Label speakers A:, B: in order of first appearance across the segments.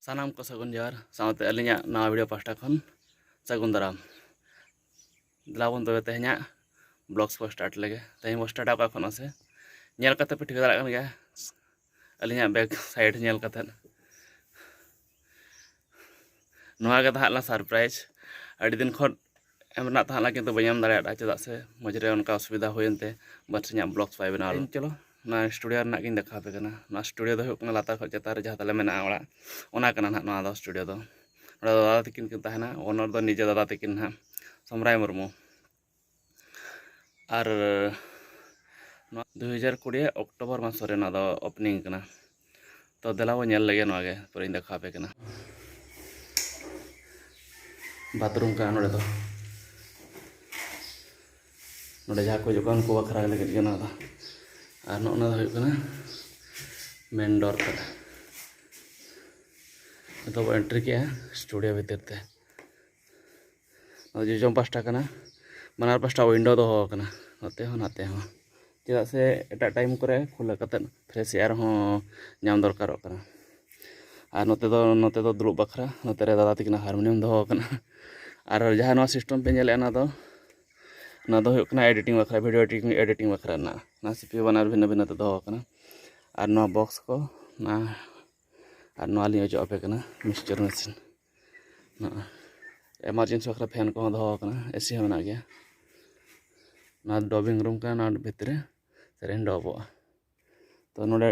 A: ᱥᱟᱱᱟᱢ ᱠᱚ ᱥᱟᱹᱜᱩᱱ ᱡᱚᱦᱟᱨ ᱥᱟᱶᱛᱮ ᱟᱹᱞᱤᱧᱟᱜ ᱱᱟᱣᱟ ᱵᱷᱤᱰᱤᱭᱳ ᱯᱟᱥᱴᱟ ᱠᱷᱚᱱ ᱥᱟᱹᱜᱩᱱ ᱫᱟᱨᱟᱢ ᱫᱮᱞᱟᱵᱚᱱ ᱛᱚᱵᱮ ᱛᱮᱦᱮᱧᱟᱜ ᱵᱞᱚᱜᱥ ᱵᱚ ᱥᱴᱟᱨᱴ ᱞᱮᱜᱮ ᱛᱮᱦᱮᱧ ᱵᱚ ᱥᱴᱟᱨᱴᱟ ᱚᱠᱟ ᱠᱷᱚᱱ ᱥᱮ ᱧᱮᱞ ᱠᱟᱛᱮ ᱯᱮ ᱴᱷᱤᱠᱟᱹ ᱫᱟᱲᱮᱭᱟᱜ ᱠᱟᱱ ᱜᱮᱭᱟ ᱟᱹᱞᱤᱧᱟᱜ ᱵᱮᱠ ᱥᱟᱭᱤᱰ ᱧᱮᱞ ᱠᱟᱛᱮ ᱱᱚᱣᱟ ᱜᱮ ᱛᱟᱦᱮᱸ ᱞᱮᱱᱟ ᱥᱟᱨᱯᱨᱟᱭᱤᱡᱽ ᱟᱹᱰᱤ ᱫᱤᱱ ᱠᱷᱚᱱ ᱮᱢ ᱨᱮᱱᱟᱜ ᱛᱟᱦᱮᱸ ᱞᱮᱱᱟ ᱠᱤᱱᱛᱩ ᱵᱟᱹᱧ ᱮᱢ ᱫᱟᱲᱮᱭᱟᱫᱟ ᱪᱮᱫᱟᱜ ᱥᱮ ᱢᱚᱡᱽ ᱨᱮ ᱚᱱᱠᱟ ᱚᱥᱩᱵᱤᱫᱷᱟ ᱦᱩᱭᱮᱱ ᱛᱮ ᱵᱟᱴ ᱤᱧᱟᱹᱜ ᱵᱞᱚᱜᱽᱥ ᱵᱟᱭ ᱵᱮᱱᱟᱣ ᱞᱮᱱᱟ ᱪᱚᱞᱚ ᱚᱱᱟ ᱥᱴᱩᱰᱤᱭᱳ ᱨᱮᱱᱟᱜ ᱜᱤᱧ ᱫᱮᱠᱷᱟᱣ ᱟᱯᱮ ᱠᱟᱱᱟ ᱱᱚᱣᱟ ᱥᱴᱩᱰᱤᱭᱳ ᱫᱚ ᱦᱩᱭᱩᱜ ᱠᱟᱱᱟ ᱞᱟᱛᱟᱨ ᱠᱷᱚᱱ ᱪᱮᱛᱟᱱ ᱨᱮ ᱡᱟᱦᱟᱸ ᱛᱟᱞᱮ ᱢᱮᱱᱟᱜᱼᱟ ᱚᱲᱟᱜ ᱚᱱᱟ ᱠᱟᱱᱟ ᱱᱟᱦᱟᱜ ᱱᱚᱣᱟ ᱫᱚ ᱥᱴᱩᱰᱤᱭᱳ ᱫᱚ ᱱᱚᱰᱮ ᱫᱟᱫᱟ ᱛᱟᱹᱠᱤᱱ ᱠᱤᱱ ᱛᱟᱦᱮᱱᱟ ᱚᱱᱚᱨ ᱫᱚ ᱱᱤᱡᱮ ᱫᱟᱫᱟ ᱛᱟᱹᱠᱤᱱ ᱱᱟᱦᱟᱜ ᱥᱚᱢᱨᱟᱭ ᱢᱩᱨᱢᱩ ᱟᱨ ᱱᱚᱣᱟ ᱫᱩ ᱦᱟᱡᱟᱨ ᱠᱩᱲᱤ ᱚᱠᱴᱳᱵᱚᱨ ᱢᱟᱥ ᱨᱮ ᱱᱚᱣᱟ ᱫᱚ ᱳᱯᱮᱱᱤᱝ ᱠᱟᱱᱟ ᱛᱚ ᱫᱮᱞᱟ ᱵᱚᱱ ᱧᱮᱞ ᱞᱮᱜᱮ ᱱᱚᱣᱟ ᱜᱮ ᱯᱚᱨᱮᱧ ᱫᱮᱠᱷᱟᱣ ᱟᱯᱮ ᱠᱟᱱᱟ ᱵᱟᱛᱷᱨᱩᱢ ᱠᱟᱱᱟ ᱱᱚᱰᱮ ᱫᱚ ᱱᱚᱰᱮ ᱡᱟᱦᱟᱸ ᱠᱚ ᱦᱤᱡᱩᱜ ᱠᱟᱱᱟ ᱩᱱᱠᱩ ᱵᱟᱠᱷᱨᱟ ᱞᱟᱹᱜᱤᱫ ᱜᱮ ᱱᱚᱣᱟ ᱫᱚ ᱟᱨ ᱱᱚᱜᱼᱚ ᱱᱚᱣᱟ ᱫᱚ ᱦᱩᱭᱩᱜ ᱠᱟᱱᱟ ᱢᱮᱱ ᱰᱳᱨ ᱛᱟᱞᱮ ᱱᱤᱛᱚᱜ ᱵᱚ ᱮᱱᱴᱨᱤ ᱠᱮᱜᱼᱟ ᱥᱴᱩᱰᱤᱭᱳ ᱵᱷᱤᱛᱤᱨ ᱛᱮ ᱱᱚᱣᱟ ᱡᱚᱡᱚᱢ ᱯᱟᱥᱴᱟ ᱠᱟᱱᱟ ᱵᱟᱱᱟᱨ ᱯᱟᱥᱴᱟ ᱩᱭᱤᱱᱰᱳ ᱫᱚᱦᱚ ᱟᱠᱟᱱᱟ ᱱᱚᱛᱮ ᱦᱚᱸ ᱱᱟᱛᱮ ᱦᱚᱸ ᱪᱮᱫᱟᱜ ᱥᱮ ᱮᱴᱟᱜ ᱴᱟᱭᱤᱢ ᱠᱚᱨᱮ ᱠᱷᱩᱞᱟᱹᱣ ᱠᱟᱛᱮᱫ ᱯᱷᱨᱮᱥ ᱮᱭᱟᱨ ᱦᱚᱸ ᱧᱟᱢ ᱫᱚᱨᱠᱟᱨᱚᱜ ᱠᱟᱱᱟ ᱟᱨ ᱱᱚᱛᱮ ᱫᱚ ᱱᱚᱛᱮ ᱫᱚ ᱫᱩᱲᱩᱵ ᱵᱟᱠᱷᱨᱟ ᱱᱚᱛᱮ ᱨᱮ ᱫᱟᱫᱟ ᱛᱟᱹᱠᱤᱱᱟᱜ ᱦᱟᱨᱢᱳᱱᱤᱭᱟᱢ ᱫᱚᱦᱚ ᱟᱠᱟᱱᱟ ᱟᱨ ᱡᱟᱦᱟᱸ ᱱᱚᱣᱟ ᱥᱤᱥᱴᱮᱢ ᱯᱮ ᱧᱮᱞᱮᱫᱼᱟ ᱚᱱᱟ ᱫᱚ ᱚᱱᱟ ᱫᱚ ᱦᱩᱭᱩᱜ ᱠᱟᱱᱟ ᱮᱰᱤᱴᱤᱝ ᱵᱟᱠᱷᱨᱟ ᱵᱷᱤᱰᱤᱭᱳ ᱮᱰᱤᱴᱤᱝ ᱮᱰᱤᱴᱤᱝ ᱵᱟᱠᱷᱨᱟ ᱨᱮᱱᱟᱜ ᱚᱱᱟ ᱥᱤ ᱯᱤ ᱭᱩ ᱵᱟᱱᱟᱨ ᱵᱷᱤᱱᱟᱹ ᱵᱷᱤᱱᱟᱹ ᱛᱮ ᱫᱚᱦᱚ ᱟᱠᱟᱱᱟ ᱟᱨ ᱱᱚᱣᱟ ᱵᱚᱠᱥ ᱠᱚ ᱚᱱᱟ ᱟᱨ ᱱᱚᱣᱟ ᱞᱤᱧ ᱚᱡᱚᱜ ᱟᱯᱮ ᱠᱟᱱᱟ ᱢᱤᱠᱥᱪᱟᱨ ᱢᱮᱥᱤᱱ ᱮᱢᱟᱨᱡᱮᱱᱥᱤ ᱵᱟᱠᱷᱨᱟ ᱯᱷᱮᱱ ᱠᱚᱦᱚᱸ ᱫᱚᱦᱚ ᱟᱠᱟᱱᱟ ᱮᱥᱤ ᱦᱚᱸ ᱢᱮᱱᱟᱜ ᱜᱮᱭᱟ ᱱᱚᱣᱟ ᱰᱚᱵᱤᱝ ᱨᱩᱢ ᱠᱟᱱᱟ ᱱᱚᱣᱟ ᱵᱷᱤᱛᱨᱤ ᱨᱮ ᱥᱮᱨᱮᱧ ᱰᱚᱵᱚᱜᱼᱟ ᱛᱚ ᱱᱚᱰᱮ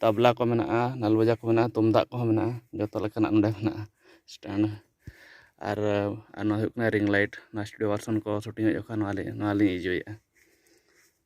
A: ᱛᱟᱵᱽᱞᱟ ᱠᱚ ᱢᱮᱱᱟᱜᱼᱟ ᱱᱟᱞ ᱵᱟᱡᱟ ᱠᱚ ᱢᱮᱱᱟᱜᱼᱟ ᱛᱩᱢᱫᱟᱜ ᱠᱚᱦᱚᱸ ᱢᱮᱱᱟᱜᱼᱟ ᱡᱚᱛᱚ ᱞᱮᱠᱟᱱᱟᱜ ᱱᱚᱰᱮ ᱢᱮᱱᱟᱜᱼᱟ ᱥᱴᱮᱱᱰ ᱟᱨ ᱱᱚᱣᱟ ᱦᱩᱭᱩᱜ ᱠᱟᱱᱟ ᱨᱤᱝ ᱞᱟᱭᱤᱴ ᱱᱚᱣᱟ ᱥᱴᱩᱰᱤᱭᱳ ᱵᱷᱟᱨᱥᱚᱱ ᱠᱚ ᱥᱩᱴᱤᱝ ᱮᱫ ᱡᱚᱠᱷᱚᱱ ᱱᱚᱣᱟ ᱞᱤᱧ ᱤᱭᱩᱡᱽ ᱮᱫᱟ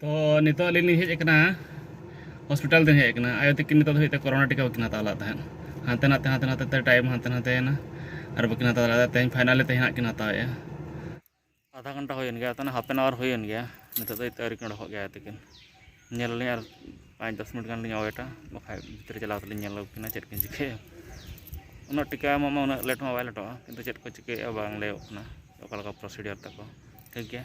A: ᱛᱚ ᱱᱤᱛᱚᱜ ᱟᱹᱞᱤᱧ ᱞᱤᱧ ᱦᱮᱡ ᱟᱠᱟᱱᱟ ᱦᱚᱥᱯᱤᱴᱟᱞ ᱞᱤᱧ ᱦᱮᱡ ᱟᱠᱟᱱᱟ ᱟᱭᱳ ᱛᱟᱹᱠᱤᱱ ᱱᱤᱛᱚᱜ ᱫᱷᱟᱹᱵᱤᱡ ᱛᱮ ᱠᱚᱨᱳᱱᱟ ᱴᱤᱠᱟ ᱵᱟᱹᱠᱤᱱ ᱦᱟᱛᱟᱣ ᱞᱮᱫ ᱛᱟᱦᱮᱸᱫ ᱦᱟᱱᱛᱮ ᱱᱟᱛᱮ ᱦᱟᱱᱛᱮ ᱱᱟᱛᱮ ᱛᱮ ᱴᱟᱭᱤᱢ ᱦᱟᱱᱛᱮ ᱱᱟᱛᱮᱭᱮᱱᱟ ᱟᱨ ᱵᱟᱹᱠᱤᱱ ᱦᱟᱛᱟᱣ ᱫᱟᱲᱮᱭᱟᱫᱟ ᱛᱮᱦᱮᱧ ᱯᱷᱟᱭᱱᱟᱞᱤ ᱛᱮᱦᱮᱧ ᱦᱟᱸᱜ ᱠᱤᱱ ᱦᱟᱛᱟᱣᱮᱜᱼᱟ ᱟᱫᱷᱟ ᱜᱷᱚᱱᱴᱟ ᱦᱩᱭᱮᱱ ᱜᱮᱭᱟ ᱛᱟᱦᱚᱞᱮ ᱦᱟᱯ ᱮᱱ ᱟᱣᱟᱨ ᱦᱩᱭᱮᱱ ᱜᱮᱭᱟ ᱱᱤᱛᱚᱜ ᱫᱷᱟᱹᱵᱤᱡ ᱛᱮ ᱟᱹᱣᱨᱤ ᱠᱤᱱ ᱚᱰᱚᱠᱚᱜ ᱜᱮᱭᱟ ᱟᱭᱳ ᱛᱟᱹᱠᱤᱱ ᱧᱮᱞ ᱟᱹᱞᱤᱧ ᱟᱨ ᱯᱟᱸᱪ ᱫᱚᱥ ᱢᱤᱱᱤᱴ ᱜᱟᱱ ᱞᱤᱧ ᱳᱭᱮᱴᱟ ᱵᱟᱠᱷᱟᱡ ᱵᱷᱤᱛᱨᱤ ᱪᱟᱞᱟᱣ ᱠᱟᱛᱮᱫ ᱞᱤᱧ ᱧᱮᱞ ᱟᱹᱜᱩ ᱠᱤᱱᱟ ᱪᱮᱫ ᱠᱤᱱ ᱪᱤᱠᱟᱹᱭᱟ ᱩᱱᱟᱹᱜ ᱴᱤᱠᱟ ᱮᱢᱚᱜ ᱢᱟ ᱩᱱᱟᱹᱜ ᱞᱮᱴ ᱢᱟ ᱵᱟᱭ ᱞᱮᱴᱚᱜᱼᱟ ᱠᱤᱱᱛᱩ ᱪᱮᱫ ᱠᱚ ᱪᱤᱠᱟᱹᱭᱮᱫᱼᱟ ᱵᱟᱝ ᱞᱟᱹᱭᱚᱜ ᱠᱟᱱᱟ ᱚᱠᱟ ᱞᱮᱠᱟ ᱯᱨᱚᱥᱤᱰᱤᱭᱳᱨ ᱛᱟᱠᱚ ᱴᱷᱤᱠ ᱜᱮᱭᱟ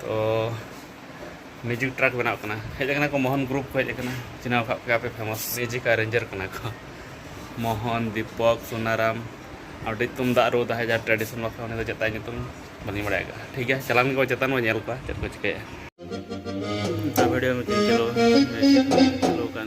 A: ᱛᱚ ᱢᱮᱡᱤᱠ ᱴᱨᱟᱠ ᱵᱮᱱᱟᱣ ᱠᱟᱱᱟ ᱦᱮᱡ ᱟᱠᱟᱱᱟ ᱠᱚ ᱢᱳᱦᱚᱱ ᱜᱨᱩᱯ ᱠᱚ ᱦᱮᱡ ᱟᱠᱟᱱᱟ ᱪᱤᱱᱦᱟᱹᱣ ᱠᱟᱜ ᱯᱮᱭᱟ ᱯᱮ ᱯᱷᱮᱢᱟᱥ ᱢᱮᱡᱤᱠ ᱟᱨ ᱨᱮᱧᱡᱟᱨ ᱠᱟᱱᱟ ᱠᱚ ᱢᱳᱦᱚᱱ ᱫᱤᱯᱚᱠ ᱥᱩᱱᱟᱨᱟᱢ ᱟᱹᱰᱤ ᱛᱩᱢᱫᱟᱜ ᱨᱩ ᱛᱟᱦᱮᱸ ᱡᱟ ᱴᱨᱟᱰᱤᱥᱚᱱ ᱵᱟᱠᱷᱨᱟ ᱩᱱᱤ ᱫᱚ ᱪᱮᱫ ᱛᱟᱭ ᱧᱩᱛᱩᱢ ᱵᱟᱹᱞᱤᱧ ᱵᱟᱲᱟᱭ ᱠᱟᱜᱼᱟ ᱴᱷᱤᱠ ᱜᱮᱭᱟ ᱪᱟᱞᱟᱣ ᱜᱮᱠᱚ ᱪᱮᱛᱟᱱ ᱵᱚᱱ ᱧᱮᱞ ᱠᱚᱣᱟ ᱪᱮᱫ ᱠᱚ ᱪᱤᱠᱟᱹᱭᱟ ᱵᱷᱤᱰᱤᱭᱳ ᱢᱤᱫᱴᱤᱡ ᱪᱟᱹᱞᱩ ᱪᱟᱹᱞᱩ ᱠᱟᱱ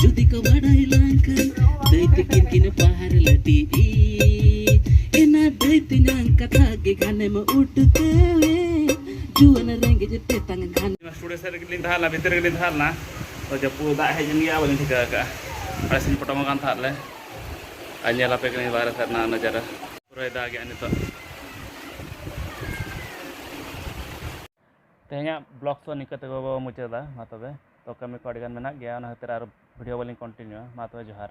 A: ᱡᱩᱫᱤ ᱠᱚ ᱵᱟᱰᱟᱭ ᱞᱟᱝᱠᱷᱟᱱ ᱫᱟᱹᱭ ᱛᱤᱠᱤᱱ ᱠᱤᱱ ᱯᱟᱦᱟᱨ ᱞᱟᱹᱴᱤ ᱮᱱᱟ ᱫᱟᱹᱭ ᱛᱤᱧᱟᱝ ᱠᱟᱛᱷᱟ ᱜᱮ ᱜᱷᱟᱱᱮᱢ ᱩᱴᱠᱟᱹᱣᱮ ᱡᱩᱣᱟᱹᱱ ᱨᱮᱸᱜᱮᱡ ᱛᱮᱛᱟᱝ ᱜᱷᱟᱱ ᱥᱴᱩᱰᱤᱭᱳ ᱥᱮᱫ ᱨᱮᱜᱮᱞᱤᱧ ᱛᱟᱦᱮᱸ ᱞᱮᱱᱟ ᱵᱷᱤᱛᱤᱨ ᱨᱮᱜᱮᱞᱤᱧ ᱛᱟᱦᱮᱸ ᱞᱮᱱᱟ ᱛᱚ ᱡᱟᱹᱯᱩᱫ ᱫᱟᱜ ᱦᱮᱡ ᱮᱱ ᱜᱮᱭᱟ ᱵᱟᱹᱞᱤᱧ ᱴᱷᱤᱠᱟᱹ ᱟᱠᱟᱫᱼᱟ ᱟᱞᱮ ᱥᱮᱫ ᱯᱚᱴᱚᱢ ᱟᱠᱟᱱ ᱛᱟᱦᱮᱸᱫ ᱞᱮ ᱟᱨ ᱧᱮᱞ ᱟᱯᱮ ᱠᱟᱹᱱᱟᱹᱧ ᱵᱟᱦᱨᱮ ᱥᱮᱫ ᱨᱮᱱᱟᱜ ᱱᱟᱡᱟᱨᱟ ᱯᱩᱨᱟᱹᱭ ᱫᱟᱜᱮᱜᱼᱟ ᱱᱤᱛᱚᱜ ᱛᱮᱦᱮᱧᱟᱜ ᱵᱞᱚᱜ ᱫᱚ ᱱᱤᱝᱠᱟᱹ ᱛᱮᱜᱮ ᱵᱚ ᱢᱩᱪᱟᱹᱫᱟ ᱢᱟ ᱛᱚᱵᱮ ᱛᱚ ᱠᱟᱹᱢᱤ ᱠᱚ ᱟᱹᱰᱤᱜᱟᱱ ᱢᱮᱱᱟᱜ ᱜᱮᱭᱟ ᱚᱱᱟ ᱠᱷᱟᱹᱛᱤᱨ ᱟᱨ ᱵᱷᱤᱰᱤᱭᱳ ᱵᱟᱹᱞᱤᱧ ᱠᱚᱱᱴᱤᱱᱤᱭᱩᱭᱟ ᱢᱟ ᱛᱚᱵᱮ ᱡᱚᱦᱟᱨ